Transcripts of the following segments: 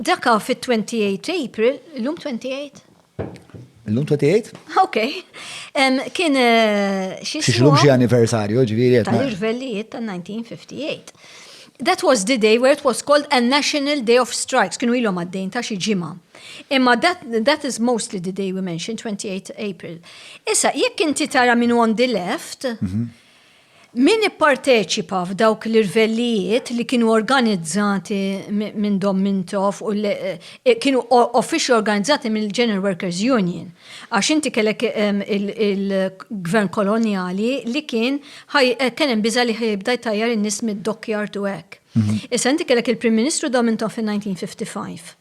Daka fit-28 April, l-lum 28? L-lum 28? Ok. Kien eh, xie. Xie l-lum xie anniversarju, ġviri. Tal-irvellijiet tal-1958. That was the day where it was called a National Day of Strikes, kienu ilhom għaddejn ta' xi ġimgħa. Imma that, that is mostly the day we mentioned, 28 April. Issa, jekk inti tara minn on the left, mhm. Min ipparteċipa f'dawk l-irvellijiet li kienu organizzati minn Dom Mintoff u eh, kienu officially organizzati mill-General Workers Union. Għax inti kellek ehm, il-gvern koloniali li kien eh, kien hemm biża li ħibda jtajjar in-nies mid-dokkjar tu hekk. Mhm. Issa inti kellek il-Prim Ministru Dom Mintoff fin-1955.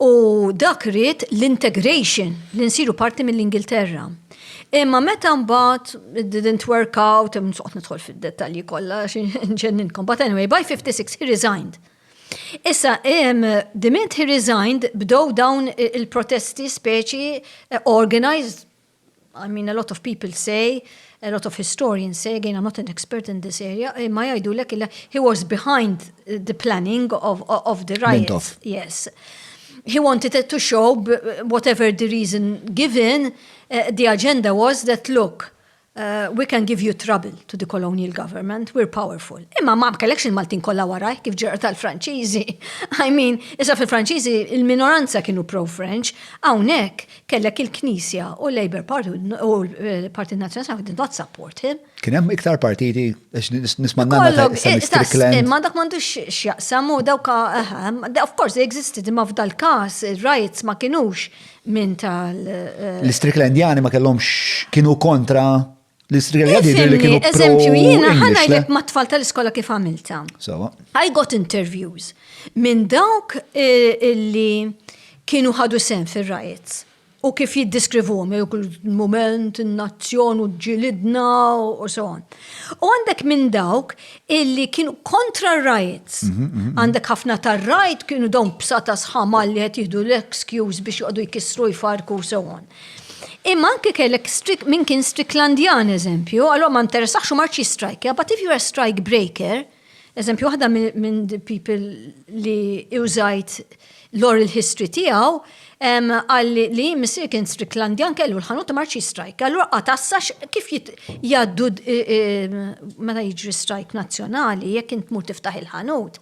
U dak ried l-integration, li nsiru parti mill-Ingilterra. Imma meta mbagħad it didn't work out, nsoqgħod nidħol fid-dettalji kollha ġenninkom. But anyway, by 56 he resigned. Issa, the minute he resigned, bdow dawn il-protesti speċi eh, organized I mean a lot of people say, a lot of historians say, again I'm not an expert in this area, imma eh, jgħidulek illa he was behind the planning of, of the riot. Mintoff. Yes. He wanted it to show, whatever the reason given, uh, the agenda was that look, uh, we can give you trouble to the colonial government, we're powerful. Imma ma kellekx il-Maltin kollha waraj kif ġerqa tal-Franċiżi. I mean, issa fil-Franċiżi il-minoranza kienu pro-French, hawnhekk kellek il-Knisja u l-Labour Party u l-Partit Nazzjonali did not support him. Kien hemm iktar partiti għax nisma' nagħna ta' Mr. Strickland. Imma dak m'għandux x'jaqsam u dawk ehm, of course they existed imma f'dal każ ir-riots ma kinux minn tal. Eh, L-Stricklandjani ma kellhomx kienu kontra L-Istrija jgħidir li kienu eżempju jiena ħanajlek ma' tfal tal-iskola kif għamilta. Sawa. I got interviews minn dawk eh, illi kienu ħadu sen fir-riots u kif jiddiskrivuhom il-moment, in-nazzjon u ġilidna u so on. U għandek minn dawk illi kienu kontra r-riots. Mhm, mhm, mhm. Għandek ħafna tar-rajt kienu dawn bsata sħamal li qed jieħdu l-excuse biex joqogħdu jkissru jfarku u so on. Imma anke kellek min kien Stricklandjan eżempju, allora ma interessax u marċi strike, but if you are strike breaker, eżempju waħda minn people li użajt l-oral history tiegħu, għalli li missir kien Stricklandjan kellu l-ħanut marċi strike. Allura qatassax kif jgħaddu meta jiġri strike nazzjonali, jekk int mur tiftaħ il-ħanut,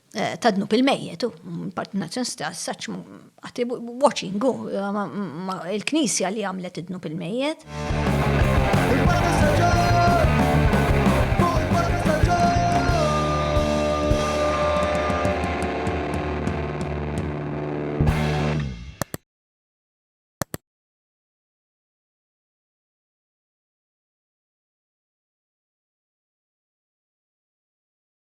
Eh, ta' dnub il-mejjet, parti nazzjon saċ għati watching, il-knisja li għamlet id-dnub il-mejjet.